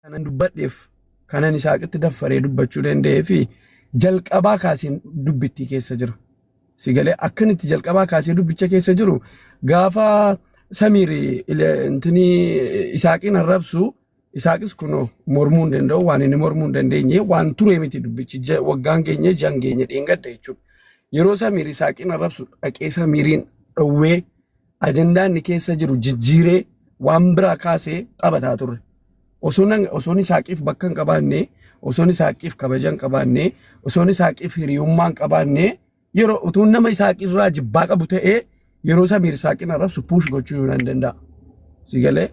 kanan dubbadheef kanan isaaqitti daffaree dubbachuu danda'ee fi jalqabaa kaaseen dubbittii keessa jira. Sigalee akkan itti jalqabaa kaasee dubbicha keessa jiru gaafa samiiri intini isaaqiin arrabsu isaaqis kunoo mormuu hin danda'u waan inni mormuu hin dandeenye waan turee miti dubbichi ja- waggaan keenya jan keenya dheengadda jechuudha. Yeroo samiiri isaaqiin arrabsu dhaqee samiiriin dhowwee ajandaa inni keessa jiru jijjiiree waan biraa kaasee taphataa turre. Osoon osoon isaaqiif bakka hin qabaanne, osoon isaaqiif kabaja hin qabaanne, osoon isaaqiif hiriyummaa hin qabaanne yeroo utuun nama isaaqirraa jibbaa qabu ta'ee yeroo samiir isaaqin arrabsu puush gochuu yoo nan danda'a. Si galee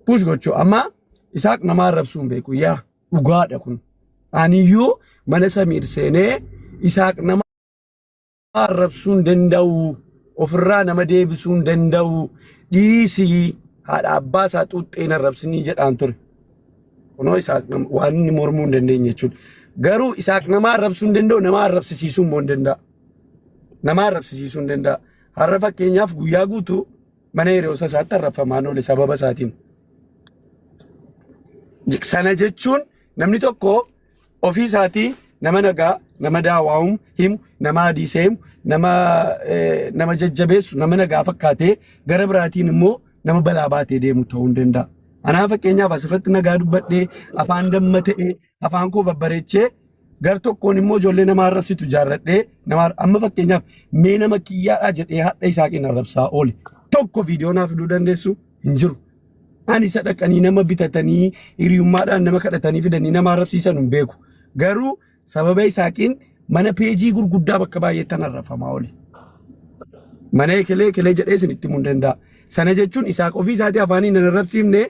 puush gochuu amma isaaq nama arrabsuu hin beeku yaa dhugaadha kun. Aniyyuu mana samiir seenee isaaq nama arrabsuun danda'u ofirraa nama deebisuun danda'u dhiisii haadha abbaa isaa xuuxxeen arrabsinii jedhaan ture. Kunoo isaaq nama waan inni mormuu hin dandeenye jechuudha. Garuu isaaq nama arrabsuu hin danda'u nama arrabsisiisuu immoo hin danda'a. Nama arrabsisiisuu hin danda'a. Har'a fakkeenyaaf guyyaa guutuu mana hiriyoota isaatti arrabfamaan oole sababa isaatiin. Sana jechuun namni tokko ofii isaatii nama nagaa nama daawaamu himu nama hadiisa himu nama eh, nama jajjabeessu nama nagaa fakkaatee gara biraatiin immoo nama balaa baatee deemu ta'uu hin danda'a. Anaa fakkeenyaaf asirratti nagaa dubbadhee afaan damma ta'ee afaan koo babbareechee gar tokkoon immoo ijoollee nama arrabsitu jaarradhee nama ar- amma fakkeenyaaf mee nama kiyyaadhaa jedhee hadha isaa keenya arrabsaa oole tokko viidiyoo naaf fiduu dandeessu hin jiru. Ani isa dhaqanii nama bitatanii hiriyummaadhaan nama kadhatanii fidanii nama arrabsiisan hin beeku. Garuu sababa isaaqiin mana peejii gurguddaa bakka baay'eettan arrafamaa oli. Mana ekelee ekelee jedhee isinitti himuu hin danda'a. Sana jechuun isaaq ofii isaatii afaanii nan arrabsiifne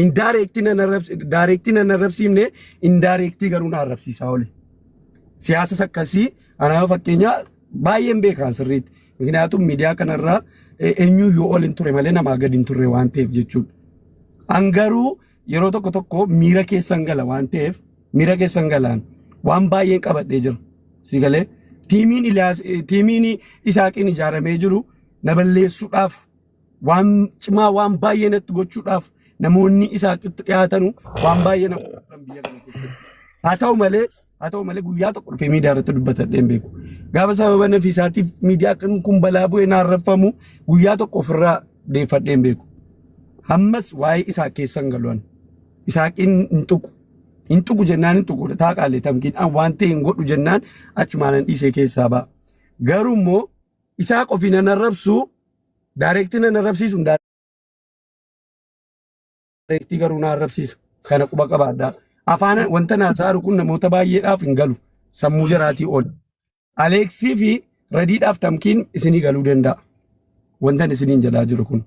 indaareektii nan arrabsi- daayireektii nan arrabsiifne indaareektii garuu na arrabsiisaa oli. Siyaasas akkasii anaa fakkeenyaa baay'een beekaan sirriitti. Mikinaatum miidiyaa kanarraa eenyuu yoo ol hin ture malee namaa gad hin turre waan ta'eef jechuudha. An garuu yeroo tokko tokko miira keessan gala waan ta'eef miira keessan galaan waan baay'een qabadhee jira. Si galee tiimiin Iliyaas tiimiin Isaaqiin ijaaramee jiru na balleessuudhaaf waan cimaa waan baay'ee natti gochuudhaaf namoonni isaatti dhiyaatanu waan baay'ee nama godhan biyya kana keessatti haa ta'u malee haa ta'u malee guyyaa tokko dhufee miidiyaa irratti dubbatadheen beeku gaafa sababa nafiisaatiif miidiyaa kan kun balaa bu'ee naarraffamu guyyaa tokko ofirraa deeffadheen beeku hammas waa'ee isaa keessan galu'an isaaqiin hin tuqu hin tuqu jennaan hin tuqudha taa qaalee tamkiin an waan ta'e hin godhu jennaan achumaanan dhiisee keessaa ba'a garuu immoo Isaaq ofiin an arrabsu daayireektii nan arrabsiisu daayireektii garuu na arrabsiisa. Kana quba qabaadhaa. Afaan wanta naa saaru kun namoota baay'eedhaaf hin galu. Sammuu jaraatii ol. Aleeksii fi radiidhaaf tamkiin isinii galuu danda'a. Wantan isiniin jedhaa jiru kun.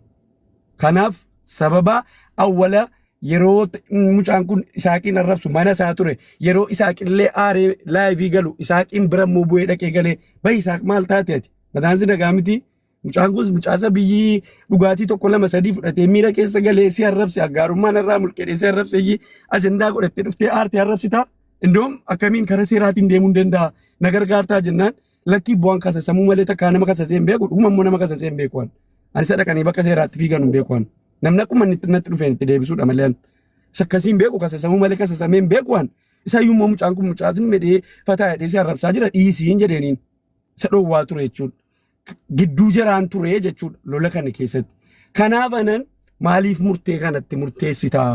Kanaaf sababa awwala yeroo t- mucaan kun isaaqiin arrabsu mana isaa ture yeroo isaaqillee aaree laayivii galu isaaqiin bira immoo bu'ee dhaqee galee bahi isaaq maal taate ati mataan si nagaa miti mucaan kun mucaasa biyyii dhugaatii tokko lama sadii fudhatee miira keessa galee si arrabse aggaarummaan irraa mulqedhee si arrabse iyyii ajandaa godhattee dhuftee aartee arrabsitaa indoom akkamiin karaa seeraatiin deemuu hin danda'a na gargaartaa jennaan Lakkii bu'aan kasasamuu malee takkaa nama kasasee hin beeku dhuguma immoo nama kasasee hin beeku waan. Ani isa dhaqanii bakka seeraatti fiigan hin beeku waan. Namni akkuma inni itti natti dhufeen itti deebisuudha malee ani. Isa akkasii hin beeku kasasamuu malee kasasamee hin beeku waan. Isa iyyuu immoo mucaan kun mucaa sun medhee fataa jedhee si arrabsaa jira dhiisiin jedheeniin. Isa dhoowwaa ture jechuudha. Gidduu jiraan ture jechuudha lola kana keessatti. Kanaaf anan maaliif murtee kanatti murteessitaa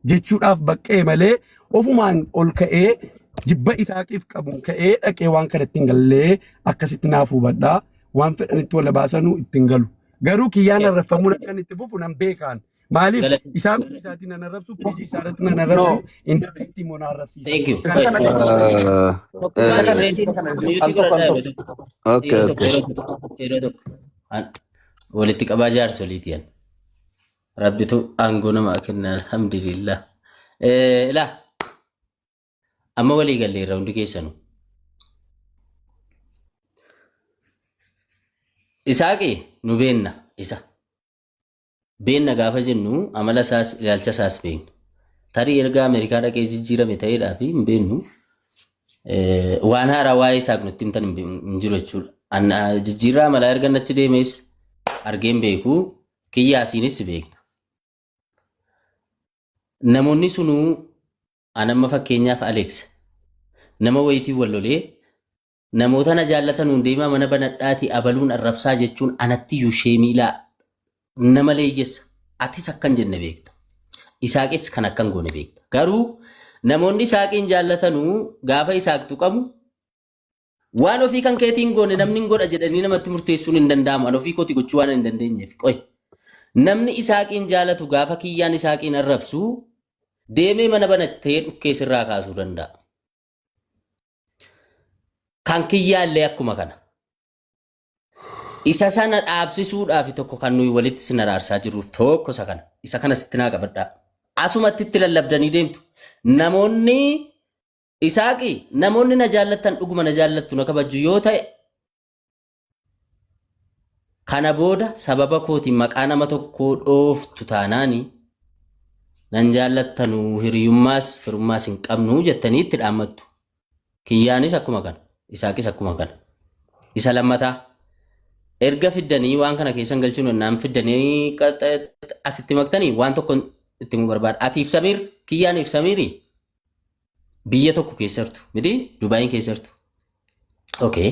jechuudhaaf baqqee malee ofumaan ol ka'ee jibba isaaqiif qabuun ka'ee dhaqee waan kanatti hin gallee akkasitti naaf hubadhaa waan fedhanitti wal baasanuu ittiin galu. Garuu kiyyaan arraffamuun akka inni itti fufu nan beekaan. Maaliif Galata. isaa kun isaatiin nan arrabsu, piijii isaa irratti nan arrabsu, inni irratti immoo na arrabsiisa. Thank you. Kana kana kana Isa kana isa kana al tokko al tokko. Okay, okay. Yeroo tokko. walitti qabaa jaarsoliiti yan rabbitu aangoo namaa kenna alhamdulillah Eh, ilaa amma walii galleerra hundi keessanu isaaqi nu beenna isa Beenna gaafa jennu amala isaas ilaalcha isaas beekna. Tarii erga Ameerikaa dhaqee jijjiirame ta'eedhaa fi hin beeknu waan haaraa waa'ee isaaf nutti himtan hin jiru jechuudha. Jijjiirraa amalaa erga achi deemees argeen beeku kiyyaasiinis beekna. Namoonni sunuu anamma fakkeenyaaf Aleeks nama wayitiin wal lolee Namoota na jaallatanuun deemaa mana banadhaati abaluun arrabsaa jechuun anattiyyuu sheemii laa nama leeyyessa. Atis akkan jenne beekta. Isaaqis kan akkan goone beekta. Garuu namoonni isaaqiin jaallatanuu gaafa isaaq tuqamu waan ofii kan keetiin goone namni hin godha jedhanii namatti murteessuun hin danda'amu. An ofii kooti gochuu waan hin dandeenyeef. Qoy. Namni isaaqiin jaalatu gaafa kiyyaan isaaqiin arrabsu deemee mana banattee dhukkee sirraa kaasuu danda'a. Kan kiyyaallee akkuma kana. Isa sana dhaabsisuudhaaf tokko kan nuyi walitti sin araarsaa jirruuf tokko isa kana. Isa kana sitti naa qabadhaa. Asumatti itti lallabdanii deemtu. Namoonni isaaqi namoonni na jaallattan dhuguma na jaallattu na kabajju yoo ta'e Kana booda sababa kootiin maqaa nama tokkoo dhooftu taanaani nan jaallattanu hiriyummaas firummaas hin qabnu jettanii itti dhaammattu. Kiyyaanis akkuma kana, Isaaqis akkuma kana. Isa lammataa erga fiddanii waan kana keessan galchuun ennaan fiddanii qaxxa- asitti maktanii waan tokko itti himuu barbaada. Atiif Samiir, Kiyyaaniif Samiiri biyya tokko keessa jirtu miti Dubaayiin keessa jirtu. Okay.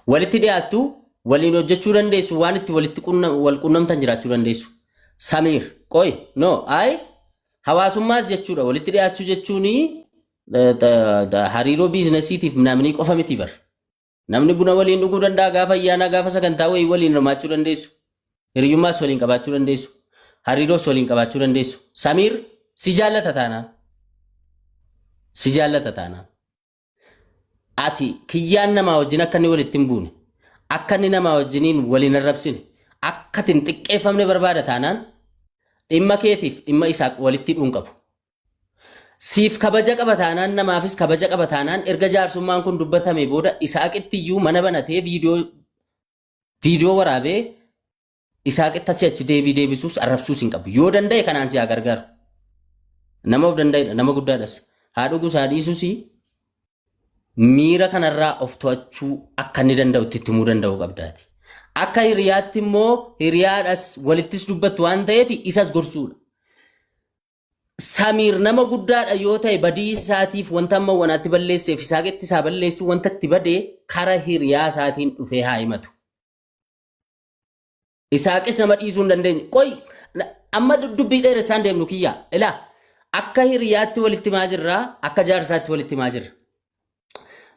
Walitti dhiyaattu waliin hojjechuu dandeessu waan itti walitti qunna- wal qunnamtan jiraachuu dandeessu. Samiir qoy no ay hawaasummaas jechuudha walitti dhiyaachuu jechuun hariiroo biizinasiitiif namni qofa miti bar. Namni buna waliin dhuguu danda'a gaafa ayyaanaa gaafa sagantaa wayii waliin hirmaachuu dandeessu. Hiriyummaas waliin qabaachuu dandeessu. Hariiroos waliin qabaachuu dandeessu. Samiir si jaallata taanaan. Si jaallata taanaan. Ati kiyyaan namaa wajjin akka inni walitti hin buune. Akka inni namaa wajjiniin waliin arrabsine. Akka ati hin xiqqeeffamne barbaada taanaan. Dhimma keetiif dhimma isaaq walitti hidhuun qabu. Siif kabaja qaba taanaan namaafis kabaja qaba taanaan erga jaarsummaan kun dubbatame booda Isaaqitti iyyuu mana banatee viidiyoo viidiyoo waraabee Isaaqitti asii achi deebii deebisuus arrabsuus hin qabu. Yoo danda'e kanaan si haa gargaaru. Nama of danda'edha, nama guddaadhas. Haa dhugus haa dhiisus miira kanarraa of to'achuu akka inni danda'u itti himuu danda'uu qabdaati. Akka hiriyaatti immoo hiriyaadhas walittis dubbattu waan ta'eef isas gorsuudha. Samiir nama guddaadha yoo ta'e badii isaatiif wanta amma wanaatti balleesseef isaa qetti isaa balleessuu wanta itti bade kara hiriyaa isaatiin dhufee haa himatu. Isaaqis nama dhiisuu hin dandeenye. Qoy amma dubbii dheeressaan deemnu kiyyaa. Ilaa akka hiriyaatti walitti maa jirra akka jaarsaatti walitti maa jirra.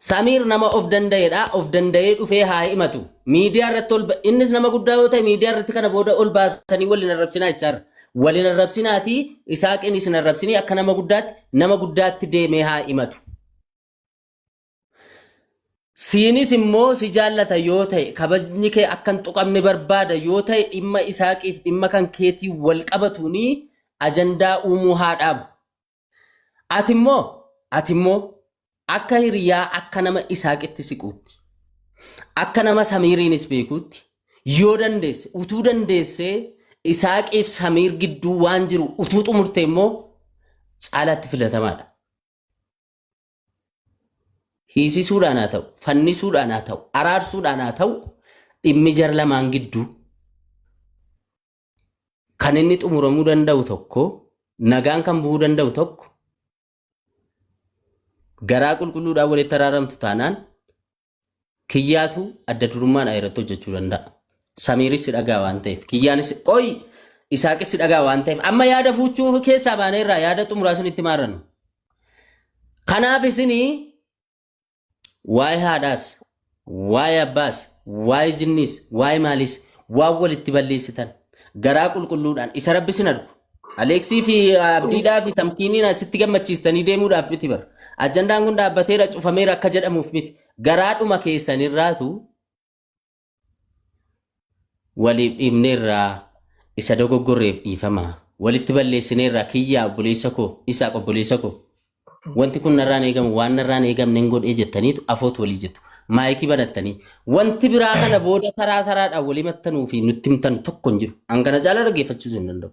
Samiir nama of danda'edha. Of danda'ee dhufee haa himatu. Miidiyaa irratti ol innis nama guddaa yoo ta'e miidiyaa irratti kana booda ol baatanii waliin arrabsinaa jechaarra. Waliin arrabsinaatii isaaqin isin arrabsinii akka nama guddaatti nama guddaatti deemee haa himatu. Siinis immoo si jaallata yoo ta'e kabajni kee akka hin tuqamne barbaada yoo ta'e dhimma isaaqiif dhimma kan keetii wal qabatuunii ajandaa uumuu haa dhaabu. Ati immoo, ati immoo akka hiriyaa akka nama Isaaqitti siquutti, akka nama Samiiriinis beekuutti yoo dandeesse, utuu dandeessee Isaaqiif Samiir gidduu waan jiru utuu xumurte immoo caalaatti filatamaadha. Hiisisuudhaan haa ta'u, fannisuudhaan haa ta'u, araarsuudhaan haa ta'u dhimmi jar lamaan gidduu kan inni xumuramuu danda'u tokko nagaan kan bu'uu danda'u tokko garaa qulqulluudhaan walitti araaramtu taanaan kiyyaatu adda durummaan irratti hojjechuu danda'a. Samiiris si dhagaa waan ta'eef kiyyaanis qoy isaaqis si dhagaa waan ta'eef amma yaada fuuchuu keessaa baanee irraa yaada xumuraa isinitti maarannu. Kanaaf isinii waa'ee haadhaas waa'ee abbaas waa'ee jinniis waa'ee maaliis waan walitti balleessitan garaa qulqulluudhaan isa rabbi sin argu Aleeksii fi Abdiidhaa fi Tamkiiniin asitti gammachiistanii deemuudhaaf miti bara. Ajandaan kun dhaabbateera cufameera akka jedhamuuf miti. Garaadhuma keessanirraatu waliif dhiibneerraa isa dogoggorreef dhiifama walitti balleessineerraa kiyyaa obboleessa koo isaaq obboleessa koo wanti kun narraan eegamu waan narraan eegamne hin godhee jettaniitu afoot walii jettu maayikii banattanii wanti biraa kana booda taraa taraadhaan walii mattanuu fi nutti himtan tokko hin jiru hangana caalaa dhaggeeffachiisuu hin danda'u.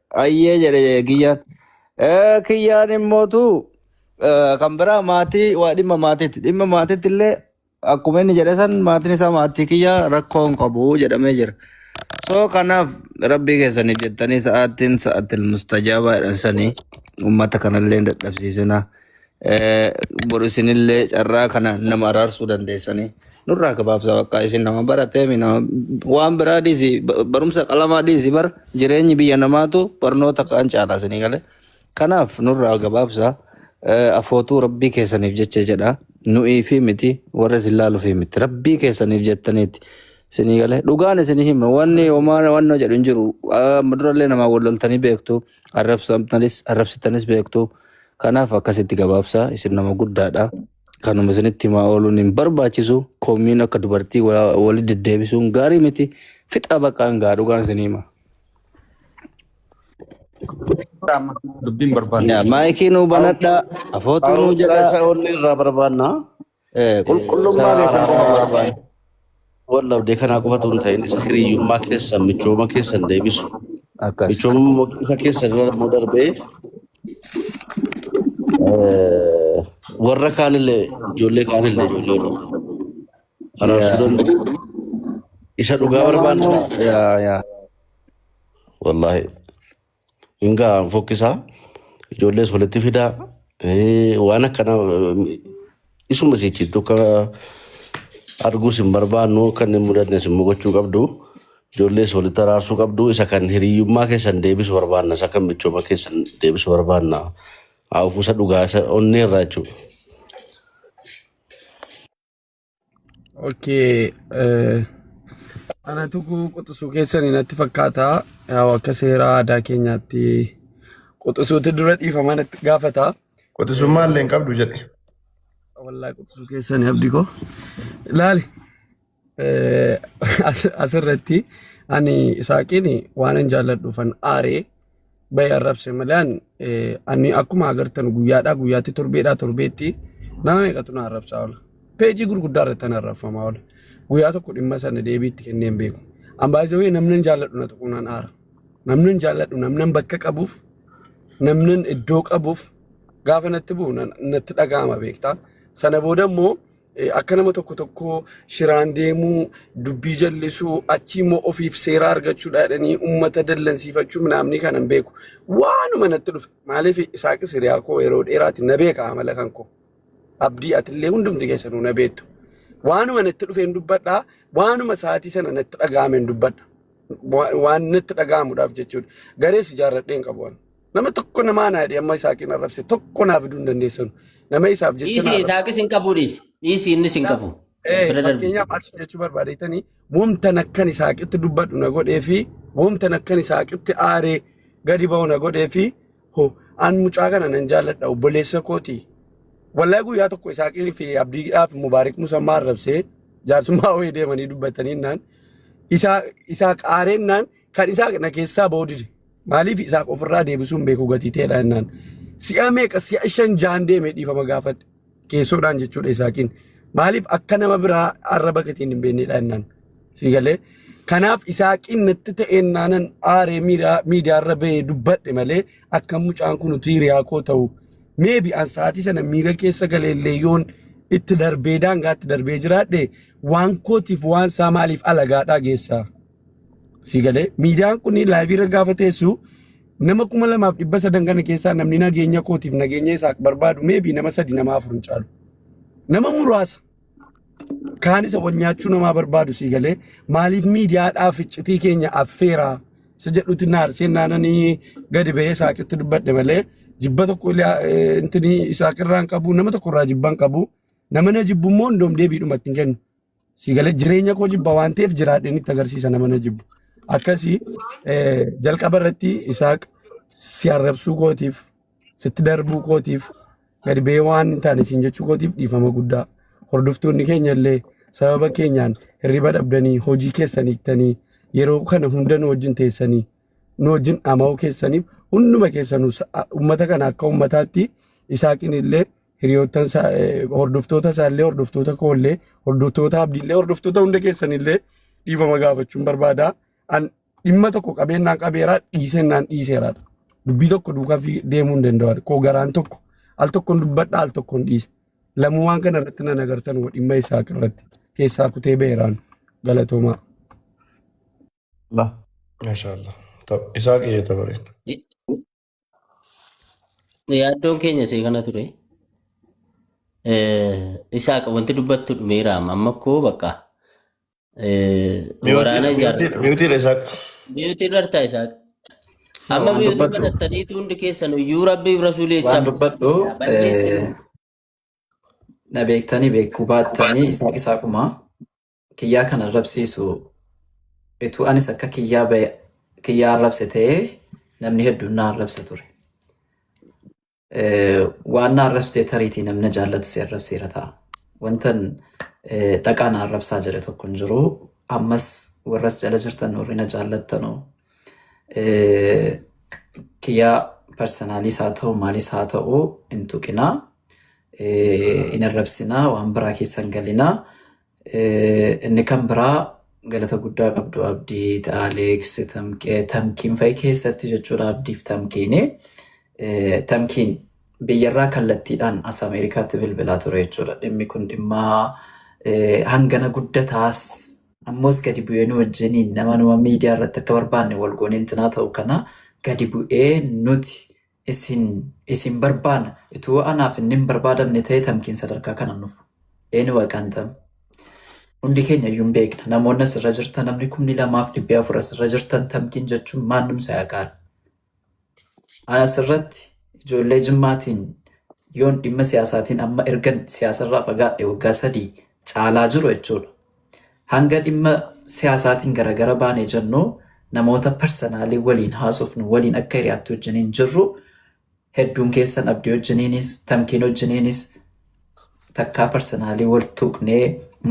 Ayyee jedhe kiyyaan. Eh, Kiyyaan immootu eh, kan biraa maatii waa dhimma maatiitti. Dhimma maatiitti illee akkuma inni jedhe san maatiin isaa maatii kiyyaa rakkoo hin qabu jedhamee jira. So kanaaf rabbii keessaniif jettanii sa'aatiin sa'aatil mustajaabaadhaan sanii uummata kanallee hin dadhabsiisinaa. Eh, Bor isinillee carraa kana nama araarsuu dandeessanii. Nurraa gabaabsa bakka isin nama barateemi nama waan biraa dhiisi ba- barumsa qalamaa dhiisi bar jireenyi biyya namaatu barnoota kaan caalaa isinii galee. Kanaaf nurraa gabaabsa eh, afootuu rabbii keessaniif jecha jedha. Nu'iifii miti warra isin laaluufii miti rabbii keessaniif jettaniiti. Isinii galee dhugaan isinii hima wanni homaa wanna jedhu hin jiru. Ah, Durallee namaa wal loltanii beektu arrabsamtanis arrabsitanis beektu. Kanaaf akkasitti gabaabsaa isin nama guddaadha. Kanuma isinitti himaa ooluun hin barbaachisu. Komiin akka dubartii wa- wali deddeebisuun gaarii miti. Fixaa baqaan gaa dhugaan isin hima. Amma dubbiin barbaanne. Yaa, Maayikii nuu banadhaa, afootuu nuu Haaromsaa jedhaa. isa onnee irraa barbaanna. Eh, Qulqullummaa Isaa beekumsa araaramaa barbaada. barbaanne. Wal dhabdee kanaa qofatu hin ta'in isa hiriyyummaa keessan michooma keessan deebisu. Akkas. Michooma isa keessan irra immoo darbee eh, warra kaanillee ijoollee kaanillee ijoollee warra araarsuu Yaa. danda'u. Isa dhugaa Sirna barbaanne. naannoo. Yaa yaa. Wallaahi. Hingaa fokkisaa ijoollees walitti fidaa eh, waan akkana isuma sichitti akka arguus hin barbaannu akka inni hin mudannes immoo gochuu qabdu ijoollees walitti araarsuu qabdu isa kan hiriyyummaa keessan deebisu barbaanna isa kan michooma keessan deebisu barbaanna hafuusa dhugaa isa onnee irraa jechuudha. Okay. eh, Anatu quxisuu keessanii natti fakkaata. Yaa Akka seera aadaa keenyaatti quxisuutu dura dhiifama natti gaafata. Quxisummaa illee hin qabdu jedhe. Wallaahi quxisuu keessanii abdi koo. Laali. eh, as- Asirratti ani isaaqiin waan hin jaalladhuufan aaree baay'ee arrabse malaan ani akkuma agartan guyyaadhaa guyyaatti torbeedhaa torbeetti nama meeqatu na arrabsaa oola. Peejii gurguddaa irratti na arrabfamaa oola. Guyyaa tokko dhimma sana deebiitti kenneen beeku. Ambaazawee namnan jaalladhu na tuquunaan aara. Namnan jaalladhu namnan bakka qabuuf namnan iddoo qabuuf gaafa natti bu'u natti dhaga'ama beektaa. Sana booda immoo Eh, Akka nama tokko tokkoo shiraan deemuu, dubbii jallisuu, achii immoo ofiif seeraa argachuudha jedhanii uummata dallansiifachuu minaamni kana hin beeku. Waanuma natti dhufe. Maaliif isaaqis hiriyaa koo yeroo dheeraati na beeka amala kan koo. abdii atillee hundumti keessanuu na beektu. Waanuma natti dhufeen dubbadha. Waanuma sa'aatii sana natti dhaga'ameen dubbadha. Wa- Waan natti dhaga'amuudhaaf jechuudha. Garees ijaarradheen qabu. ani. Nama tokko namaa naa jedhe amma Isaaqiin arrabse tokko naa fiduu hin dandeessanu. Nama isaaf jecha Dhiisi naa arrabse. isaaqis hin qabu dhiisi. Dhiisi innis hin qabu. Eh, Bira darbisi. fakkeenyaaf maal si jechuu barbaadetanii wamtan akkan isaaqitti dubbadhu na godhee fi wamtan akkan isaaqitti aaree gadi ba'u na godhee fi ho an mucaa kana nan jaalladha obboleessa kooti. Wallahi guyyaa tokko isaaqii fi abdiidhaa fi mubaarik musammaa arrabsee jaarsummaa wayii deemanii dubbatanii naan isaa isaa qaareen naan kan isaa na keessaa ba'uu dide. Maaliif isaaf ofirraa deebisuu hin beeku gatii ta'edha jennaan. Si'a meeqa si'a shan jahan deeme dhiifama gaafadhe. Keessoodhaan jechuudha Isaaqiin. Maaliif akka nama biraa arraba keetiin hin beeknedha jennaan. Sii galee. Kanaaf Isaaqiin natti ta'een naanan aaree miiraa- miidiyaarra ba'ee dubbadhe malee akka mucaan kun utuu hiriyaa koo ta'u. Meebi an sa'aatii sana miira keessa galee illee yoon itti darbee daangaatti darbee jiraadhe waan kootiif waan isaa maaliif alagaadhaa geessaa? Sii galee miidiyaan kun laayivii irra gaafa teessu nama kuma lamaaf dhibba sadan kana keessaa namni nageenya kootiif nageenya isaa barbaadu meebii nama sadi nama afur hin caalu. Nama muraasa kaan isa wal nyaachuu namaa barbaadu sii galee maaliif miidiyaadhaaf iccitii keenya affeeraa isa jedhutti naarseen naananii gadi ba'ee saaqitti dubbadhe malee jibba tokko intini isaaqirraa hin qabu nama tokkorraa jibba hin qabu nama na jibbu immoo hundoom deebiidhumatti hin kennu. Si galee jireenya koo jibba waan ta'eef jiraadheen itti agarsiisa nama na jibbu. Akkasii eh, jalqaba irratti isaaq si arrabsuu kootiif sitti darbuu kootiif gadi ba'ee waan hin taane siin jechuu kootiif dhiifama guddaa. Hordoftoonni keenya illee sababa keenyaan hirriba dhabdanii hojii keessan hiiktanii yeroo kana hunda nu wajjin teessanii nu wajjin dhama'uu keessaniif hunduma keessanuu sa- uummata kana akka uummataatti isaaqin illee hiriyoottan isaa hordoftoota isaa illee hordoftoota koo illee hordoftoota abdii illee hordoftoota hunda keessan illee dhiifama gaafachuun barbaada. An dhimma tokko qabeenyaan qabeera dhiisennaan dhiiseera. Dubbii tokko duukaa fi deemuu hin danda'an. Koo garaan tokko al tokkoon dubbadha al tokkoon dhiisa. Lamuu waan kana irratti nan agartan hoo dhimma isaa irratti keessaa kutee beeraan galatoomaa. Allah. Mashallah. Ta'u isaa qe'ee tabareen. Yaaddoon keenya see kana ture. Eh, Isaaq wanti dubbattu dhumeera amma amma koo bakka eh, waraana Miyuutiin ijaarra. miyuutiin miyuutiin isaa Biyyotiin rartaa Isaaq. No, Amma waan biyyotii dubbadhu banattaniitu hundi keessan iyyuu rabbiif rasuulii waan jechaaf dubbadhu eh, balleessinu. na beektanii beekuu baattanii isaaq isaaqumaa kiyyaa kan arrabsiisu ituu anis akka kiyyaa ba'e kiyyaa arrabse ta'ee namni hedduun na arrabsa ture. Eh, Waan na arrabsite tariitii namna jaallatu si arrabseera ta'a. Wantan eh, dhaqaa na arrabsaa jedhe tokko hin jiru. Ammas warras jala jirtan warri na jaallattanu eh, kiyyaa parsanaalis haa ta'u maalis haa ta'u hin tuqinaa. eh, hin arrabsinaa waan biraa keessan galinaa Inni kan biraa galata guddaa qabdu Abdii, Aleeks, Tamqee, Tamkiin fa'i keessatti jechuudha Abdiif Tamkiini. Tamkiin biyyarraa kallattiidhaan as Ameerikaatti bilbilaa ture jechuudha. Dhimmi kun dhimma hangana guddataas ammoos gadi bu'ee nu wajjiniin nama nama miidiyaa irratti akka barbaanne wal goonee intinaa ta'u kana gadi bu'ee nuti isin isin barbaana ituu anaaf inni hin barbaadamne ta'e tamkiin sadarkaa kana nuuf eeni waqaan tam hundi keenya iyyuu hin beekna namoonni asirra jirtan namni kumni lamaaf dhibbi afur asirra jirtan tamkiin jechuun maannum isaa yaqaala ana asirratti ijoollee jimmaatiin yoon dhimma siyaasaatiin amma ergan siyaasarraa fagaadhe waggaa sadii caalaa jiru jechuudha Hanga dhimma siyaasaatiin garagara baane jennu namoota parsanaalii waliin haasofnu waliin akka hiriyaatti wajjiniin jirru hedduun keessan abdii wajjiniinis tamkiin wajjiniinis takkaa parsanaalii wal tuqnee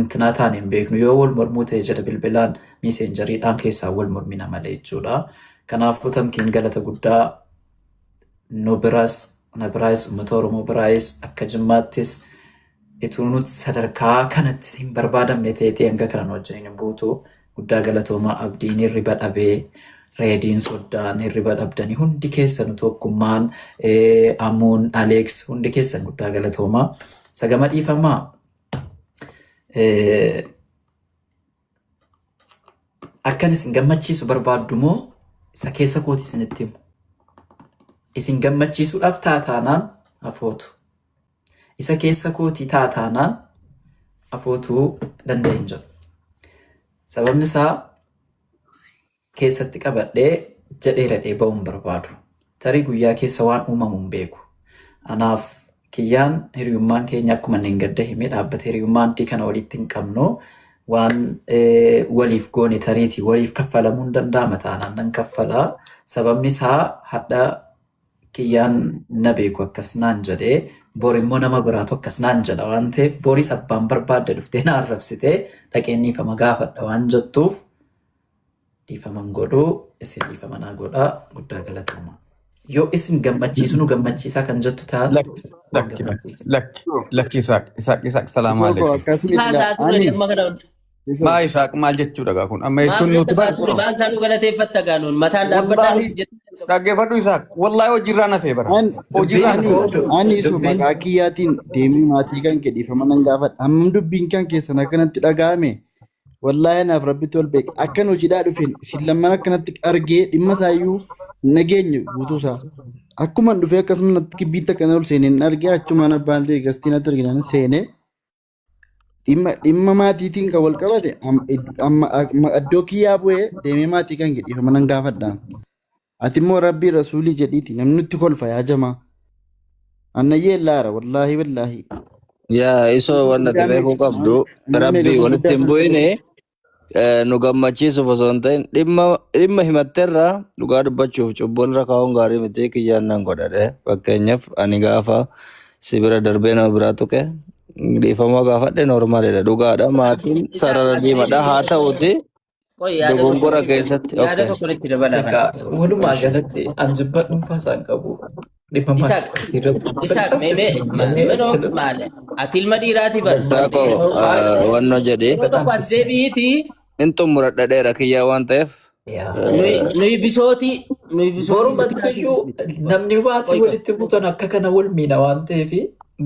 intinaa taane hin beeknu yoo wal mormuu ta'e jedha bilbilaan miiseenjariidhaan keessaa wal mormina malee jechuudha. Kanaafuu tamkiin galata guddaa nu biras na biraayis uummata Oromoo biraayis akka jimmaattis Ituu nut sadarkaa kanattis hin barbaadamne teetee hanga kana nu wajjiniin hin buutu. Guddaa galatoomaa abdiin hirriba dhabee reediin soddaan hirriba dhabdanii hundi keessanu tokkummaan eh, amuun aleeks hundi keessan guddaa galatoomaa. Sagama dhiifamaa eh, akkan isin gammachiisu barbaaddu moo isa keessa kooti isinitti himu. Isin gammachiisuudhaaf taataanaan afootu. Isa keessa kootii ta'a taanaan afootuu danda'e hin jiru. Sababni isaa keessatti qabadhee jedhee radhee ba'uu hin barbaadu. Tarii guyyaa keessa waan uumamu hin beeku. Anaaf kiyyaan hiriyummaan keenya akkuma inni hin gadda himee dhaabbata hiriyummaa antii kana walitti hin qabnu waan eh, waliif goone tariiti waliif kaffalamuu hin danda'ama taanaan nan kaffala. Sababni isaa hadha kiyyaan na beeku akkas naan jedhee bor immoo nama biraatu akkas naan jedha waan ta'eef boris abbaan barbaadde dhuftee na arrabsitee dhaqeen dhiifama gaafadha waan jettuuf dhiifaman godhu isin dhiifama naa godha guddaa galatoomaa. Yoo isin gammachiisu nu gammachiisaa kan jettu taate Lakki, nu lakki, lakki, gammachiisa. lakki, lakki, Isaaq, Isaaq, Isaaq, salaamu Isoo koo alaikum. akkasii Haasaa ture ani amma kana hunda. Maa isaaq maal jechuudha gaa kun amma jechuun nuti bari Maaf maal taanuu galateeffatta gaanuun mataan dhaabbadhaa Wallahi nuti jettee dhaggeeffadhu isaaq wallahi hojiirraa nafee bara An hojiirraa ani nafee ani isu dubbiin maqaa kiyyaatiin deemee maatii kan kee dhiifama nan gaafadha. Hammam dubbiin kan keessan akkanatti dhaga'ame wallaahi anaaf rabbitti ol beeka. Akkan hojiidhaa dhufeen isin lamman akkanatti argee dhimma isaayyuu hin dhageenye guutuu isaa. Akkuman dhufee akkasuma natti kibbiitti akkana ol seeneen argee achumaan abbaan ta'e gastiin natti arginaan seenee Dhimma dhimma maatiitiin kan wal qabate am- id- amma amma iddoo kiyyaa bu'ee deemee maatii kan jedhiif mana hin gaafadha. Ati immoo rabbii rasuulii jedhiiti namni nutti kolfa yaa jamaa. Annayyee laara wallaahi wallaahi. Yaa isoo Nama wanti guddaa beekuu meeqa qabdu nama meeqa rabbii walitti gurguddaa hin kan ta'e bu'ine Eh, nu gammachiisuuf osoo hin ta'in dhimma dhimma himatterra dhugaa dubbachuuf cubbuu irra kaa'uun gaarii miti kiyyaan nan godhadhe fakkeenyaaf ani gaafa si bira darbee nama biraa tuqe dhiifama gaafadhe noormaalidha dhugaadha Isa maatiin isa isa sarara isa diimadha haa isa ta'uti qoy yaada tokko dogongora isinitti keessatti yaada okay tokko isinitti dabalaa kana. Egaa walumaa Ishi. galatti an jibba dhuunfaa isaan qabu. Dhibba maal Isaaq, sirra Isaaq, mee mee ma- minoo maale? Ati ilma dhiiraati bar. Saako wanno jedhee Yeroo tokko as deebi'iiti hin xumura dhadheera kiyyaa waan ta'eef nuyi nuyi bisooti nuyi bisooti. Boru mattayyuu namni maatii Qoyta. walitti butan akka kana wal miidha waan ta'eef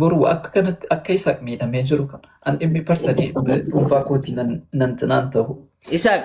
boru akka kanatti akka isa miidhamee jiru kana an dhimmi parsanii dhuunfaa kootii nan nan tinaan ta'u. Isaaq,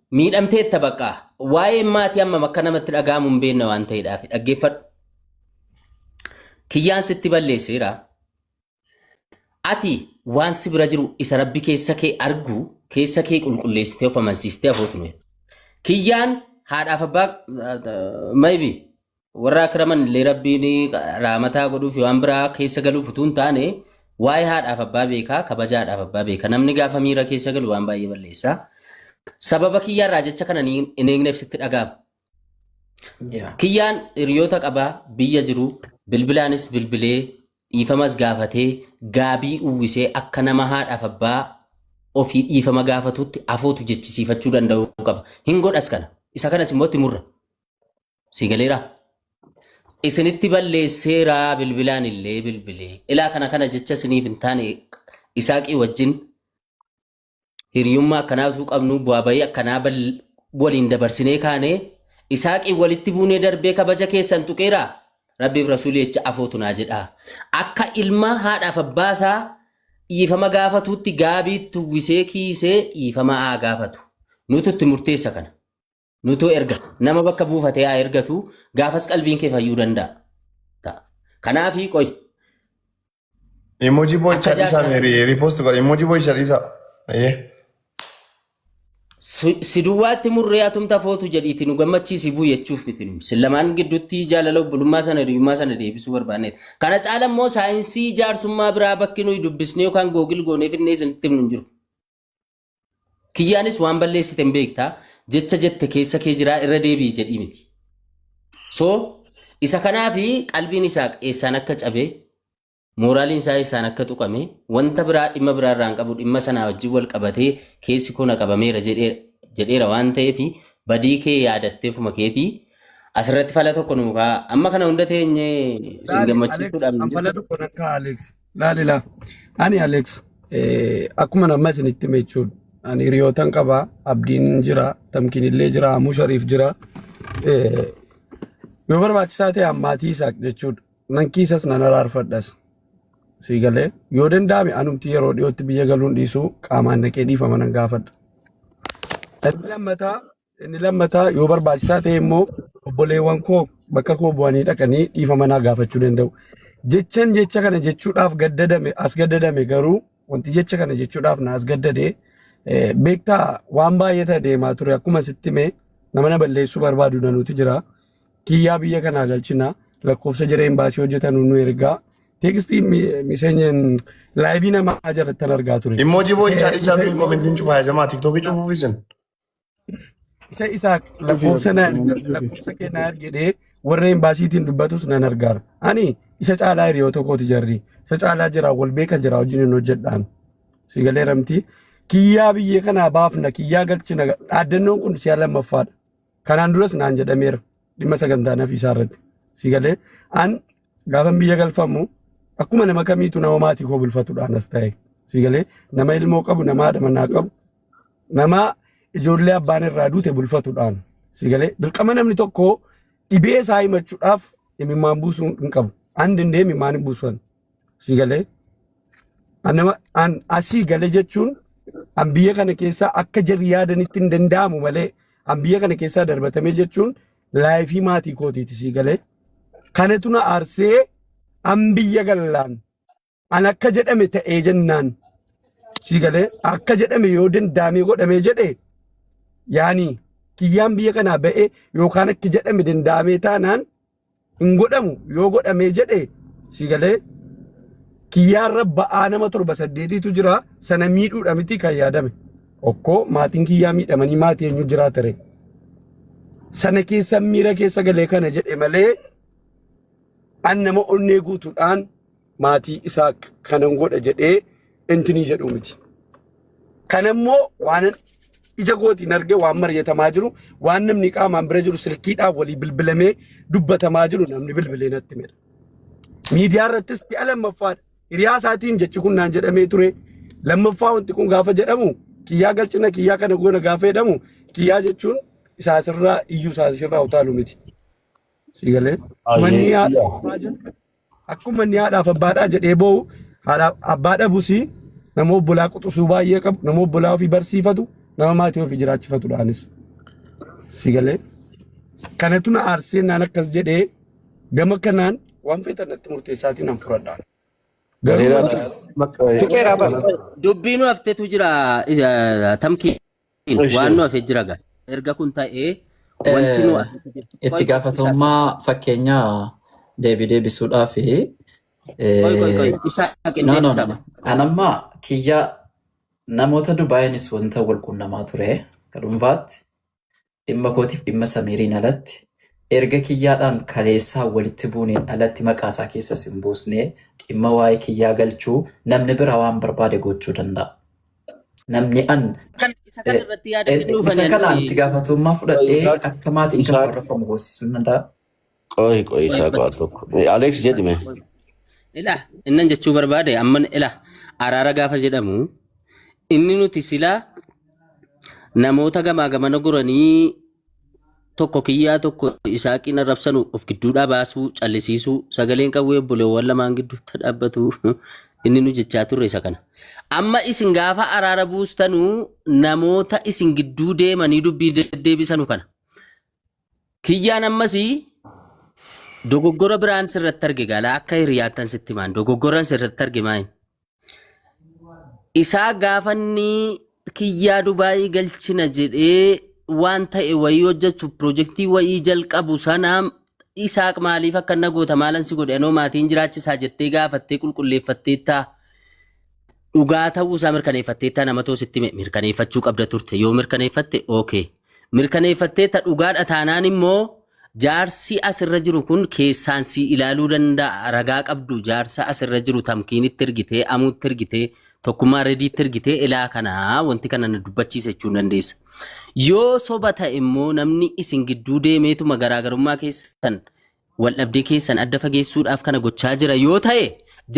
Miidhamteetta baqqaa. Waa'een maati hammam akka namatti dhaga'amu hin beekne waan ta'eedhaaf dhaggeeffadhu. Kiyyaan sitti balleesseera. Ati waan si bira jiru isa rabbi keessa kee argu keessa kee qulqulleessitee of amansiistee afootu nuyi. Kiyyaan haadhaaf abbaa maybi warra akiraman illee rabbiin raamataa godhuuf waan biraa keessa galuuf utuu hin taane waa'ee haadhaaf abbaa beekaa kabajaadhaaf abbaa beeka namni gaafa miira keessa galu waan baay'ee balleessa sababa kiyyaarraa jecha kana ni- hin eegneef sitti dhaga'ama Yeah. kiyyaan hiriyoota qabaa biyya jiru bilbilaanis bilbilee dhiifamas gaafatee gaabii uwwisee akka nama haadhaaf abbaa ofii dhiifama gaafatutti afootu jechisiifachuu danda'uu qaba hin godhas kana isa kanas immoo itti murra Si galeera? Isinitti balleesseera bilbilaan illee bilbilee. Ilaa kana kana jecha isiniif hin taane isaaqii wajjin hiriyummaa akkanaa utuu qabnu bu'aa bahii akkanaa bal- waliin dabarsinee kaane isaaqii walitti buunee darbee kabaja keessan tuqeera. Rabbiif rasuulii jecha afootu naa jedha. Akka ilma haadhaaf abbaa isaa dhiifama gaafatuutti gaabiitti uwwisee kiisee dhiifama haa gaafatu. Nutu itti murteessa kana. Nutuu erga nama bakka buufatee haa ergatu gaafas qalbiin kee fayyuu danda'a. Ta'a. Kanaafii qoy Emoji boy Akka chalisa jaarsaa- me repost godha. Emoji boy chalisa. Ayyee. si- si duwwaatti murree atumta footu jedhiiti nu gammachiisi buu jechuuf miti nu. Sin lamaan gidduutti jaalala obbolummaa sana hiriyummaa sana deebisuu barbaanneet. Kana caala immoo saayinsii jaarsummaa biraa bakki nuyi dubbisnee yookaan googil goonee finnee isinitti himnu hin jiru. Kiyyaanis waan balleessite hin beekta jecha jette keessa kee jiraa irra deebi'i jedhii miti. So isa kanaafi qalbiin isaa eessaan akka cabe mooraaliin isaa eessaan akka tuqame wanta biraa dhimma biraa irraa hin qabu dhimma sanaa wajjin wal qabatee keessi koo na qabameera jedhee jedheera waan ta'eef badii kee yaadattee fuma keetii asirratti fala tokko nuu kaa amma kana hunda teenye sin Laali Alex gammachiisuudhaaf hin an fala jirtu. tokko nan ka'a Alex. Laalila. Ani Alex akkuma nama isinitti hime jechuudha. Ani hiriyootan qaba. Abdiin jira. Tamkiin illee jira. Amuu Shariif jira. Yoo barbaachisaa ta'e ammaatii isaaq jechuudha. Nan kiisas nan araarfadhas. Sii galee yoo danda'ame anumti yeroo dhiyootti biyya galuun dhiisuu qaamaan naqee dhiifama nan gaafadha. Inni lammataa Inni lammataa yoo barbaachisaa ta'e immoo obboleewwan koo bakka koo bu'anii dhaqanii dhiifama naa gaafachuu danda'u. Jechan jecha kana jechuudhaaf gaddadame as gaddadame garuu wanti jecha kana jechuudhaaf na as gaddade eh, beektaa waan baay'ee ta'e deemaa ture akkuma sitti mee nama na balleessuu barbaadu nanuuti jira. Kiyyaa biyya kanaa galchina lakkoofsa jira imbaasii hojjetanu nu ergaa teekstii miseenya laayivii namaa jalattan argaa ture. Immoojii boo'ichaa dhiisaa Miseenyi- fi komentiin cufaa jamaa tiktookii cufuuf isin. Isa isaak Dhufeera lakkoofsa na dhufeera erga- dhufeera. lakkoofsa kee na ergi jedhee warra embaasiitiin dubbatus nan argaara. Ani isa caalaa hiriyoota kooti jarri. Isa caalaa jira wal beeka jira wajjin hin hojjedhaan. Si galee ramti. Kiyyaa biyya kanaa baafna kiyyaa galchina. Dhaaddannoon kun si'a lammaffaadha. Kanaan duras naan jedhameera dhimma sagantaa nafiisaa irratti. Si galee an gaafan biyya galfamu akkuma nama kamiitu nama maatii koo bulfatudhaan as ta'e. Si galee nama ilmoo qabu nama haadha manaa qabu Namaa ijoollee abbaan irraa duute bulfatuudhaan si galee dirqama namni tokko dhibee isaa himachuudhaaf imimmaan buusuu hin qabu. An danda'e imimmaan hin buusan si galee. An nama an asii galee jechuun an biyya kana keessaa akka jarri yaadanitti hin danda'amu malee an biyya kana keessaa darbatamee jechuun laayifii maatii kootiiti si galee. Kanatu na aarsee an biyya gallaan An akka jedhame ta'ee jennaan sii galee akka jedhame yoo dandaamee godhamee jedhe yaani kiyyaan biyya kanaa ba'ee yookaan akka jedhame dandaamee taanaan hin godhamu yoo godhamee jedhe sii galee kiyyaan rabba'aa nama torba saddeetiitu jira sana miidhuudha miti kan yaadame. Okkoo maatiin kiyyaa miidhamanii maatii eenyu jiraa ture. Sana keessa miira keessa galee kana jedhe malee an nama onnee guutuudhaan maatii isaa kanan godha jedhee intinii jedhu miti. Kan immoo waan ija kootiin arge waan mari'atamaa jiru waan namni qaamaan bira jiru silkiidhaan walii bilbilamee dubbatamaa jiru namni bilbilee natti mira. Miidiyaa irrattis si'a lammaffaadha. Hiriyaa isaatiin jechi kun naan jedhamee ture. Lammaffaa wanti kun gaafa jedhamu kiyyaa galchina kiyyaa kana goona gaafa jedhamu kiyyaa jechuun isaa sirraa iyyuu isaa sirraa utaalu miti. Siigalee. Manni yaa Akkuma inni haadhaaf abbaadhaa jedhee boo'u haadhaaf abbaa dhabus nama obbolaa quxusuu baay'ee qabu nama obbolaa ofii barsiifatu nama maatii ofii jiraachifatudha anis. Si galee kanatu na aarsee naan akkas jedhee gama kanaan waan feetan natti murteessaatiin nan furadha. Garuu Gareeraa wanti- Fiqeeraa bara. Dubbiinu haftetu jira eh, tamkii. Ishee. Waan nu hafe jira gaa. Erga kun ta'ee wanti nu hafe jira. Itti Qoy- gaafatamummaa fakkeenyaa deebii deebisuudhaaf Qoy qoy qoy. Isaa No, no, qindees no, qaba. no. An amma kiyya namoota Dubaayinis wanta wal quunnamaa ture akka dhuunfaatti Dhimma kootiif dhimma Samiiriin alatti, erga kiyyaadhaan kaleessaa walitti buuneen alatti maqaa isaa keessas hin buusne, dhimma waa'ee kiyyaa galchuu namni biraa waan barbaade gochuu danda'a. Namni an Kan isa kan irratti yaada kennuuf isa ani kanaan anis itti gaafatamummaa fudhadhee Wayitaatti akka maatiin kan Isaa- warrafamu goosisuu danda'a. Qoy qoy Qoy isaa qoy. qoal tokko. Alex Qoy jedhime. qoy. Ila innan jechuu barbaade amman ila araara gaafa jedhamu inni nuti silaa namoota gamaa gamana goranii tokko kiyyaa tokko isaa qina rabsanu of gidduudhaa baasuu callisiisuu sagaleen qawwee obboleewwan lamaan gidduutti dhaabbatu inni nu jechaa turre isa kana. Amma isin gaafa araara buustanuu namoota isin gidduu deemanii dubbii deddeebisanu kana. Kiyyaan ammasi dogoggora biraan sirratti arge gaala akka hiriyaattan sitti himaan dogoggoran sirratti arge maayin. Isaa gaafanni kiyyaa Dubaayii galchina jedhee waan ta'e wayii hojjetu pirojektii wayii jalqabu sana isaaq maaliif akka na goota maalan si godhe anoo maatiin jiraachisaa jettee gaafattee qulqulleeffatteettaa. dhugaa ta'uu isaa mirkaneeffatteetta namatoo sitti hime mirkaneeffachuu qabda turte yoo mirkaneeffatte okay mirkaneeffatteetta dhugaadha taanaan immoo jaarsi asirra jiru kun keessaan si ilaaluu danda'a ragaa qabdu jaarsa asirra jiru tamkiinitti ergitee amuutti ergitee tokkummaa rediitti ergitee ilaa kanaa wanti kana na dubbachiisa jechuu dandeessa. Yoo soba ta'e immoo namni isin gidduu deemeetuma garaagarummaa keessan Waldhabdee keessan adda fageessuudhaaf kana gochaa jira yoo ta'e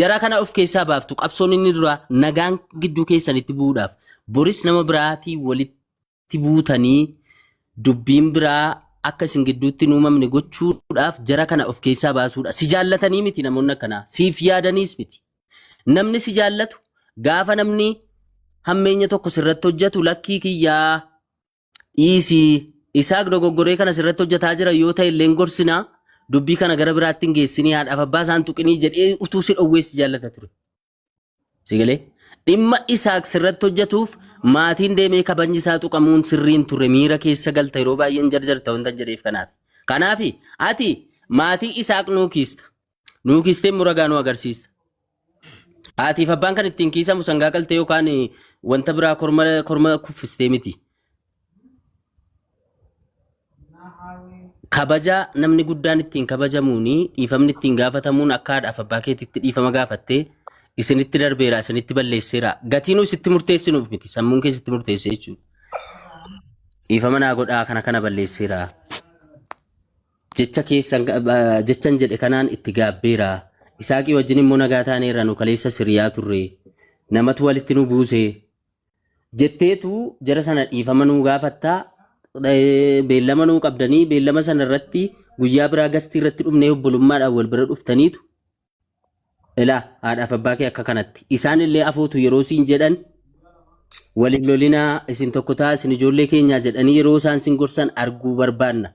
jara kana of keessaa baaftu qabsoon inni duraa nagaan gidduu keessanitti bu'uudhaaf boris nama biraatii walitti buutanii dubbiin biraa akka isin gidduutti hin uumamne gochuudhaaf jara kana of keessaa baasuudha. Si jaallatanii miti namoonni akkanaa siif yaadaniis miti. Namni si jaallatu gaafa namni hammeenya tokko sirratti hojjetu lakkii kiyyaa Dhiisii Isaaq dogoggoree kana sirratti hojjetaa jira yoo ta'e illee hin gorsinaa dubbii kana gara biraatti hin geessinii haadhaaf abbaa isaan tuqinii jedhee utuu si dhowwee si jaallata ture. Si galee? Dhimma Isaaq sirratti hojjetuuf maatiin deemee kabajni isaa tuqamuun sirrii hin turre miira keessa galta yeroo baay'een jarjarta wanta jedheef kanaaf. Kanaaf ati maatii Isaaq nuu kiista. Nuu kiistee immoo ragaa nu agarsiista. Haatiif abbaan kan ittiin kiisamu sangaa qaltee yookaan eh, wanta biraa korma korma kuffistee miti. Kabaja namni guddaan ittiin kabajamuuni dhiifamni ittiin gaafatamuun akka haadhaaf abbaa keetitti dhiifama gaafattee isinitti darbeera isinitti balleesseera gatiinuu isitti murteessinuuf miti sammuun kee isitti murteessee jechuudha. Dhiifama naa godhaa kana kana balleesseera. Jecha keessan, jechan jedhe kanaan itti gaabbeera. Isaaqii wajjin immoo nagaa taaneerra nu kaleessas hiriyaa turre. Namatu walitti nu buuse. Jetteetu jara sana dhiifama nuu gaafatta. Eh, Beellama nuu qabdanii beellama sana irratti guyyaa biraa gastii irratti dhufnee obbolummaadhaan wal bira dhuftaniitu ilaa haadhaaf abbaa kee akka kanatti. Isaan illee afootu yeroo siin jedhan waliin lolinaa isin tokko ta'a isin ijoollee keenyaa jedhanii yeroo isaan sin gorsan arguu barbaanna.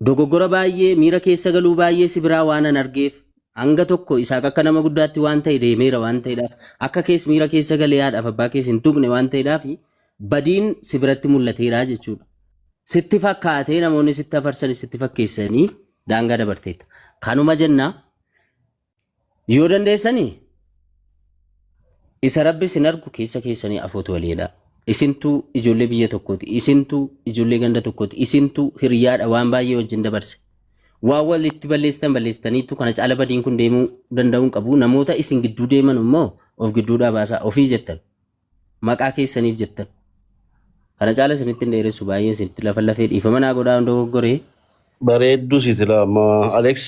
Dogoggora baay'ee, miira keessa galuu baay'ee si biraa waanan argeef, hanga tokko Isaaq akka nama guddaatti waan ta'e deemeera waan ta'edhaaf, akka kees miira keessa galee haadhaaf abbaa kees hin tuqne waan ta'edhaaf badiin si biratti mul'ateera jechuudha. Sitti fakkaatee namoonni sitti afarsanis sitti fakkeessanii daangaa dabarteetta. Kanuma jenna Yoo dandeessanii isa rabbi isin argu keessa keessanii afootu waliidha. Isintuu ijoollee biyya tokkooti. Isintuu ijoollee ganda tokkooti. Isintuu hiriyaadha waan baay'ee wajjin dabarse. Waan walitti balleessitan balleessitaniitu kana caala badiin kun deemuu danda'uu hin qabu. Namoota isin gidduu deeman immoo of gidduudhaa baasaa ofii jettan. maqaa keessaniif jettan kana caala isinitti hin dheeressu baay'ee isinitti lafa lafee dhiifama naa godhaa hin dogoggoree Bareedduu siitila amma Aleeks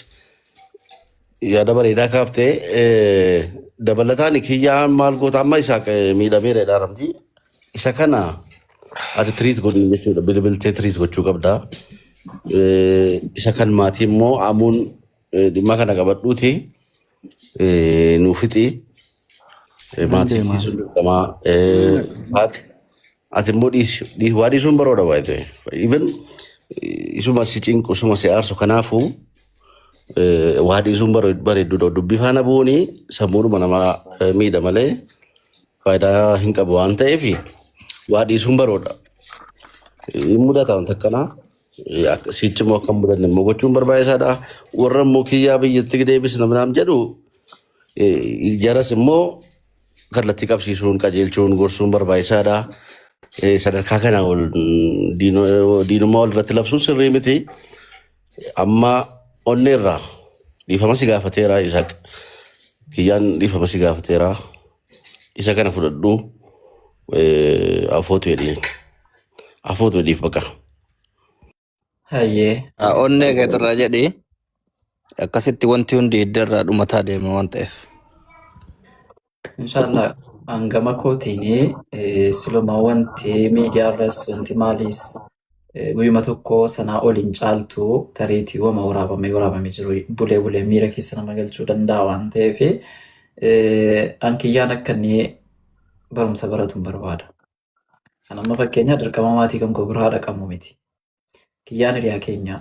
yaada bareedaa kaaftee eh, dabalataan kiyyaan maal goota amma isaa miidhameera jedhaaramti. Isa kana ati tiriit godhu jechuudha bilbiltee tiriit gochuu qabda. Eh, Isa kan maatii immoo amuun eh, dhimma kana qabadhuuti. Eh, Nuu fixii Eh, Nan maatii fi deema. sun dirqamaa Eh, haadha ati immoo dhiisi Dhii- waa dhiisuun baroodha waa ta'e even eh, isuma si cinqu isuma si aarsu kanaafuu eh, waa dhiisuun bare- bareedduudha dubbii faana bu'uuni sammuudhuma namaa eh, miidha malee faayidaa hin qabu waan ta'eef waa dhiisuun baroodha hin mudata wanta akkanaa Sichi immoo akka hin mudanne immoo gochuun barbaachisaadha. Warra immoo kiyyaa biyyatti deebisna minaam jedhu eh, jaras immoo kallattii qabsiisuun qajeelchuun gorsuun barbaachisaadha. Eh, Sadarkaa kana ol mm, diino- diinummaa wal irratti labsuun sirrii miti. Amma onnee irraa dhiifama si gaafateera Isaaq. Kiyyaan dhiifama si gaafateera. Isa kana fudhadhu eh, afootu jedheen. Afuutu dhiif baqa. Hayyee. Ah, Hayyee. Onnee Hayyee. keetirraa jedhi akkasitti wanti hundi hidda irraa dhumataa deema waan ta'eef. Inshaallah hangama kootiin eh, siluma wanti miidiyaarras wanti maaliis eh, guyyuma tokko sanaa ol hin caaltu tareetii wama waraabamee waraabamee jiru bulee bulee miira keessa nama galchuu danda'a waan ta'eef eh, an kiyyaan akka inni barumsa baratu hin barbaada. Kan amma fakkeenyaa dirqama maatii kan koo bira haadha qabnu miti. Kiyyaan hiriyaa keenyaa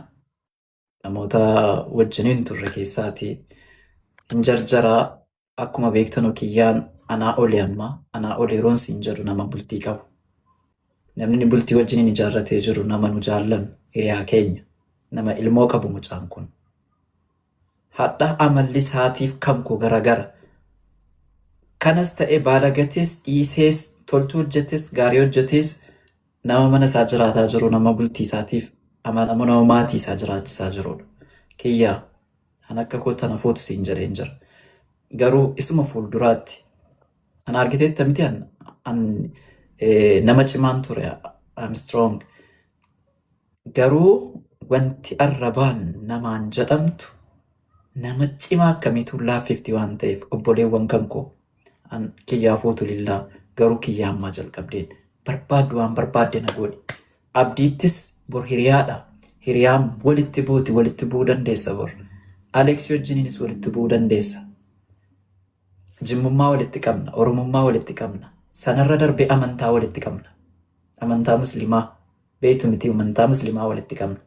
namoota wajjiniin turre keessaati hin jarjaraa akkuma beektanu kiyyaan anaa olii amma anaa olii yeroon siin jedhu nama bultii qabu. Namni inni bultii wajjiniin ijaarratee jiru nama nu jaallan hiriyaa keenya nama ilmoo qabu mucaan kun. Hadha amalli isaatiif kam ko garagara. Kanas ta'e baalagatees dhiisees toltuu hojjetes gaarii hojjetees nama mana isaa jiraataa jiru nama bultii isaatiif amanamu nama maatii isaa jiraachisaa jirudha. Kiyyaa kan akka koo tana fuutu siin jedheen jira. Garuu isuma fuulduraatti an argiteetta miti an, an eh, nama cimaan ture I'm strong Garuu wanti arrabaan namaan jedhamtu nama cimaa akkamiituu laaffifti waan ta'eef obboleewwan kan koo an kiyyaa fuutu lillaa garuu kiyyaa ammaa jalqabdeen barbaaddu waan barbaadde na goodhi abdiittis bor hiriyaadha hiriyaan walitti buuti walitti bu'uu dandeessa bor aleeksii wajjiniinis walitti bu'uu dandeessa jimmummaa walitti qabna oromummaa walitti qabna sanarra darbee amantaa walitti qabna amantaa muslimaa beeytu mitii umantaa muslimaa walitti qabna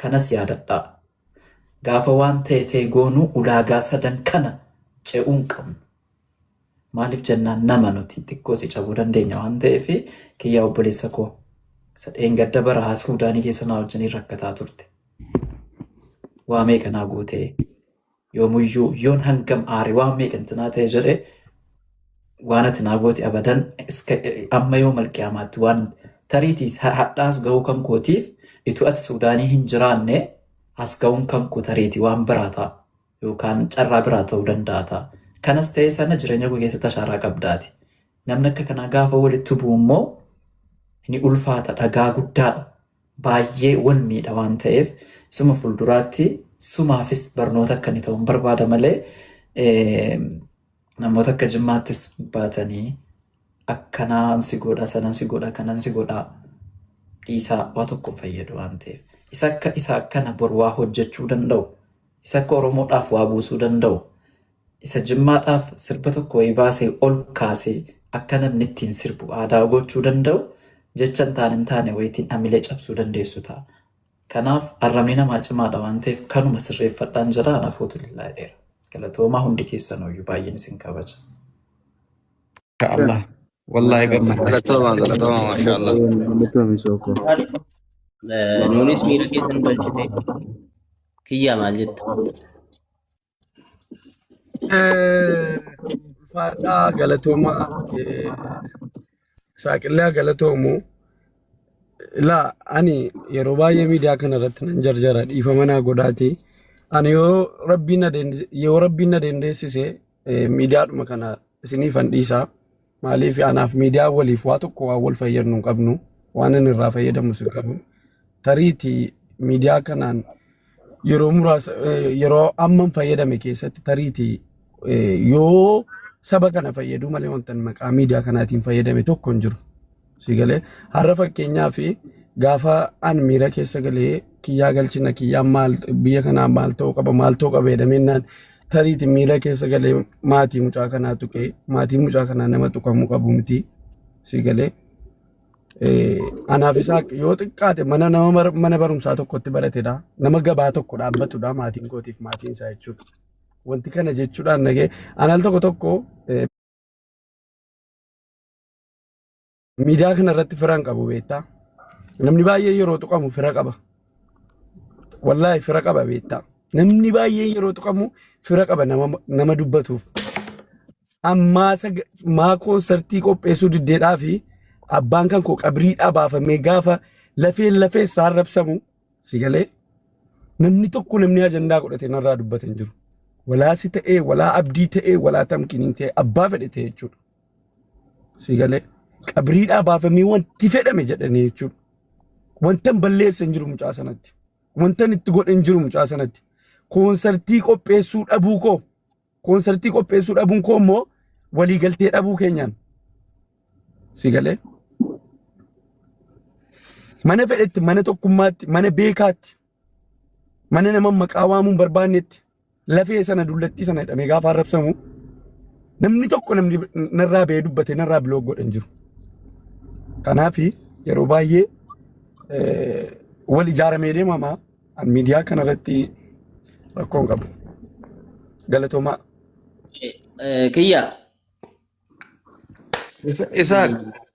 kanas yaadadhaa gaafa waan ta'e ta'e goonu ulaagaa sadan kana ce'uun qabnu maaliif jennaan nama nuti xiqqoo si cabuu dandeenya waan ta'eef kiyyaa obboleessa koo isa dheengadda bara haa suudaanii keessa naa wajjiniin rakkataa turte waamee kanaa gootee Yoomuyyuu yoon hangam aare waan meeqan tinaa ta'e jedhe waan ati naa goote abadan iska amma yoo malqiyaamaatti waan tariitiis har- hadhaas gahuu kan kootiif itu ati suudaanii hin jiraanne as gahuun kan koo tariiti waan biraa ta'a yookaan carraa biraa ta'uu danda'a ta'a. Kanas ta'ee sana jireenya koo keessatti ashaaraa qabdaati. Namni akka kanaa gaafa walitti bu'u immoo ni ulfaata dhagaa guddaadha. baay'ee wal miidha waan ta'eef suma fuulduraatti sumaafis barnoota akka inni ta'u hin barbaada malee namoota akka jimmaattis baatanii akkanaan si godha sanan si godha kanan si godha dhiisaa waa tokko hin fayyadu waan ta'eef isa akka isa akkana bor waa hojjechuu danda'u isa akka oromoodhaaf waa buusuu danda'u Isa jimmaadhaaf sirba tokko wayii baasee ol kaasee akka namni ittiin sirbu aadaa gochuu danda'u jecha hin taane hin taane wayitiin amilee cabsuu dandeessu ta'a. Kanaaf arrabni namaa cimaadha waan ta'eef kanuma sirreeffadhaan jedha anafuutu lillaa dheera. Galatoomaa hundi keessanooyyuu baay'een isin kabaja. Masha Allah. Wallahi gammadne. Galatoomaa galatoomaa maashaa Allah. Galatoomi sookoo. Nuunis miira keessa nu galchite. Kiyyaa maal jetta? Ulfaadhaa galatoomaa saaqillaa galatoomu. Ilaa ani yeroo baay'ee miidiyaa kana irratti nan jarjara dhiifama naa godhaati. Ani yoo rabbiin na dandeessise miidiyaadhuma kana isiniifan dhiisaa maaliif anaaf miidiyaa waliif waa tokko waan wal fayyadnu hin qabnu waan inni irraa fayyadamus hin qabu tariiti miidiyaa kanaan yeroo muraasa eh, yeroo amman fayyadame keessatti tariiti eh, yoo saba kana fayyaduu malee wanta maqaa miidiyaa kanaatiin fayyadame tokko hin jiru. si galee har'a fakkeenyaa fi gaafa an miira keessa galee kiyyaa galchina kiyyaa maal biyya kanaa maal ta'uu qaba maal ta'uu qaba jedhamennaan tariiti miira keessa galee maatii mucaa kanaa tuqee maatii mucaa kanaa nama tuqamuu qabu miti si galee Eh, anaaf isaa yoo xiqqaate mana nama mar- mana barumsaa tokkotti baratedha nama gabaa tokko dhaabbatudha maatiin kootiif maatiin isaa jechuudha wanti kana jechuudhaan nagee anal tokko tokko eh, Miidiyaa kana irratti fira hin qabu beektaa. Namni baay'ee yeroo tuqamu fira qaba. Wallaahi fira qaba beektaa. Namni baay'ee yeroo tuqamu fira qaba nama, nama dubbatuuf. Ammaa saga- maa koonsartii qopheessuu diddeedhaa fi abbaan kan koo qabrii dhabaafamee gaafa lafeen lafee isaa rabsamu si galee namni tokko namni ajandaa godhatee narraa dubbatan jiru. Walaa si ta'ee, walaa abdii ta'ee, walaa tamkiniin ta'ee, abbaa fedhe ta'ee jechuudha. Si galee qabriidhaa baafamee wanti fedhame jedhanii jechuudha. Wantan balleessa hin jiru mucaa sanatti. Wantan itti godhe hin jiru mucaa sanatti. Koonsartii qopheessuu dhabuu koo. Koonsartii qopheessuu dhabuun koo immoo waliigaltee dhabuu keenyaan. Si galee mana fedhetti mana tokkummaatti mana beekaatti mana nama maqaa waamuun barbaannetti lafee sana dullattii sana hidhamee gaafa arrabsamu namni tokko namni narraa ba'ee dubbate narraa biloog godhan jiru. Kanaaf yeroo baay'ee wal ijaaramee deemama miidiyaa kanarratti rakkoon qabu. Galatoomaa. Kiyya. Isaaq.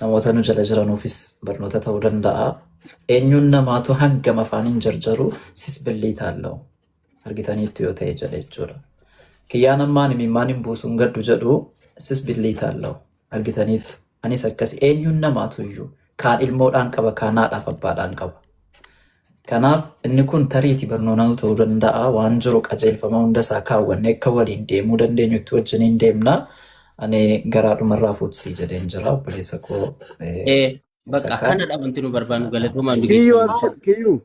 Namoota nu jala jiranuufis barnoota ta'uu danda'a. Eenyuun namaatu hangam afaan hin jarjaru sis billii taallau. Argitaniittu yoo ta'e jedhe jechuudha. Kiyyaan ammaan imimmaan hin buusuun gaddu jedhu sis billii taallau. Argitaniittu. Anis akkas eenyuun namaatu iyyuu kaan ilmoodhaan qaba kaan haadhaaf abbaadhaan qaba. Kanaaf, inni kun tariiti barnoonau ta'uu danda'a. Waan jiru qajeelfama hunda isaa kaawwannee akka waliin deemuu dandeenyutti wajjiniin deemna. Ani garaa dhumarraa fuutsii jedheen jira obboleessa koo. eh, Eh, Bakka Sakkaa. kana dhabanti nu barbaannu galatoomaa nu Kiyyuu geessan. abshir kiyyuu.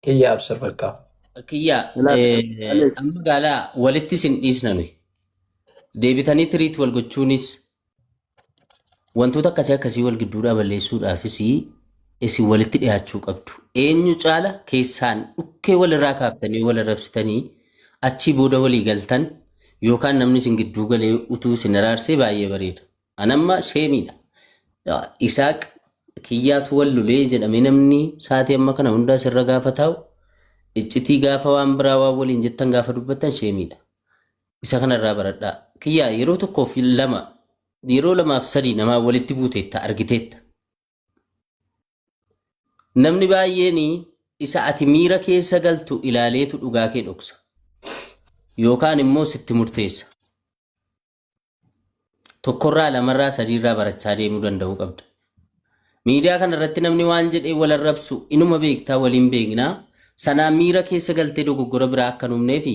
Kiyya abshir bakka. Kiyya Ilaali, eh, Alex. amma gaalaa walitti sin dhiisna nuyi. Deebitanii tiriit wal gochuunis Wantoota akkasii akkasii wal gidduudhaa balleessuudhaafis isin walitti dhiyaachuu qabdu. Eenyu caala keessaan dhukkee walirraa kaaftanii wal arrabsitanii achii booda walii galtan yookaan namni isin gidduu galee utuu isin araarsee baay'ee bareeda. Anamma sheemiidha. Isaaq kiyyaatu wal lolee jedhamee namni saatii amma kana hundaa sirra gaafa taa'u iccitii gaafa waan biraa waan waliin jettan gaafa dubbattan sheemiidha. isa kanarraa baradhaa. Kiyyaa yeroo tokkoo fi lama yeroo lamaaf sadii namaa walitti buuteetta argiteetta. Namni baay'een isa ati miira keessa galtu ilaaleetu dhugaa kee dhoksa. Yookaan immoo sitti murteessa. tokkorraa lamarraa sadiirraa barachaa deemuu danda'uu qabda. Miidiyaa kana irratti namni waan jedhee wal arrabsu inuma beektaa waliin beeknaa sanaa miira keessa galtee dogoggora biraa akka hin uumnee fi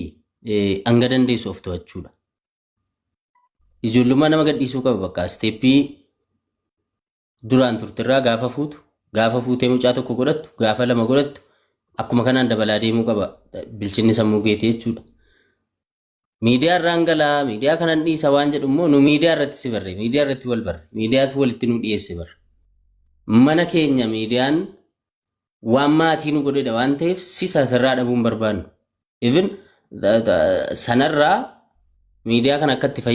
hanga dandeessu of to'achuudha. Ijoollummaa nama gadhiisuu qaba bakka isteeppii duraan turterraa gaafa fuutu gaafa fuutee mucaa tokko godhattu gaafa lama godhattu akkuma kanaan dabalaa deemuu qaba bilchinni sammuu keetii jechuudha. Miidiyaa irraan galaa, miidiyaa kanan dhiisa waan jedhu immoo nu miidiyaa irratti si barre, miidiyaa irratti wal barre, miidiyaatu walitti nu dhiyeesse barre. Mana keenya miidiyaan waan maatii nu godhedha waan ta'eef si sasirraa dhabuun barbaannu. Even sanarraa miidiyaa kana akka itti fayyadamu.